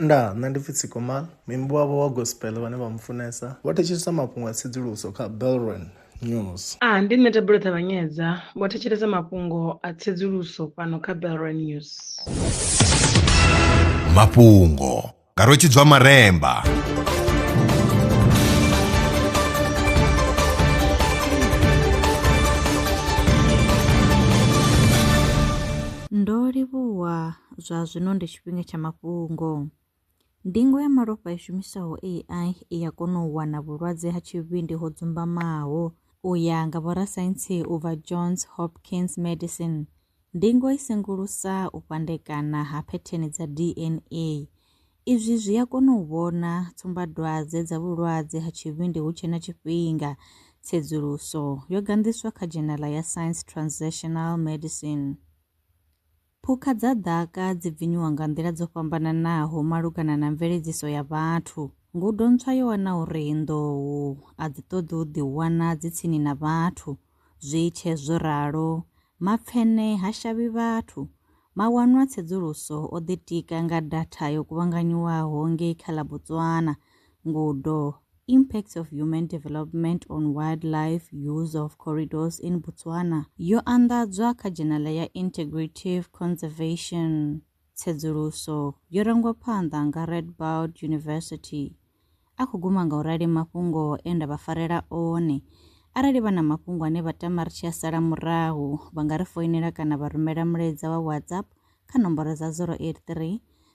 Ndaa, nṋe ndi pfi Tsikomal, muimbi wavho wa gospel vhane vha mu funesa vho thetshelesa mafhungo a tsedzuluso kha Belron News. A, ndi nṋe Thabelo Ṱavhanyedza, vho thetshelesa mafhungo a tsedzuluso fhano kha Belron News. Mafhungo nga Rwetshidzwa Maremba. Ndo livhuwa Zwa zwino ndi tshifhinga tsha mafhungo. Ndingo ya malofha i shumisaho AI i ya kona u wana vhulwadze ha tshivhindi ho dzumbamaho. U ya nga vhorasaintsi u bva Johns Hopkins Medicine, ndingo i sengulusa u fhandekana ha phetheni dza DNA. Izwi zwi a kona u vhona tsumbadwadze dza vhulwadze ha tshivhindi hu tshe na tshifhinga. Tsedzuluso yo ganḓiswa kha dzhenala ya Science Translational Medicine. Phukha dza ḓaka dzi bvinyiwa nga nḓila dzo fhambananaho malugana na mveledziso ya vhathu. Ngudo ntswa yo wana uri nḓou a dzi ṱoḓi u ḓiwana dzi tsini na vhathu. Zwi tshe zwo ralo, mapfene ha shavhi vhathu. Mawanwa a tsedzuluso o ḓitika nga datha yo kuvhanganyiwaho ngei kha ḽa Botswana. Ngudo. Impacts of Human Development on Wildlife Use of Corridors in Botswana yo anḓadzwa kha dzhenala ya Integrative Conservation. Tsedzuluso yo rangwa phanḓa nga Radboud University. A khou guma nga u rali mafhungo e nda vha farela one. Arali vha na mafhungo ane vha tama ri tshi a sala murahu, vha nga ri foinela kana vha rumela mulaedza wa WhatsApp kha nomboro dza 083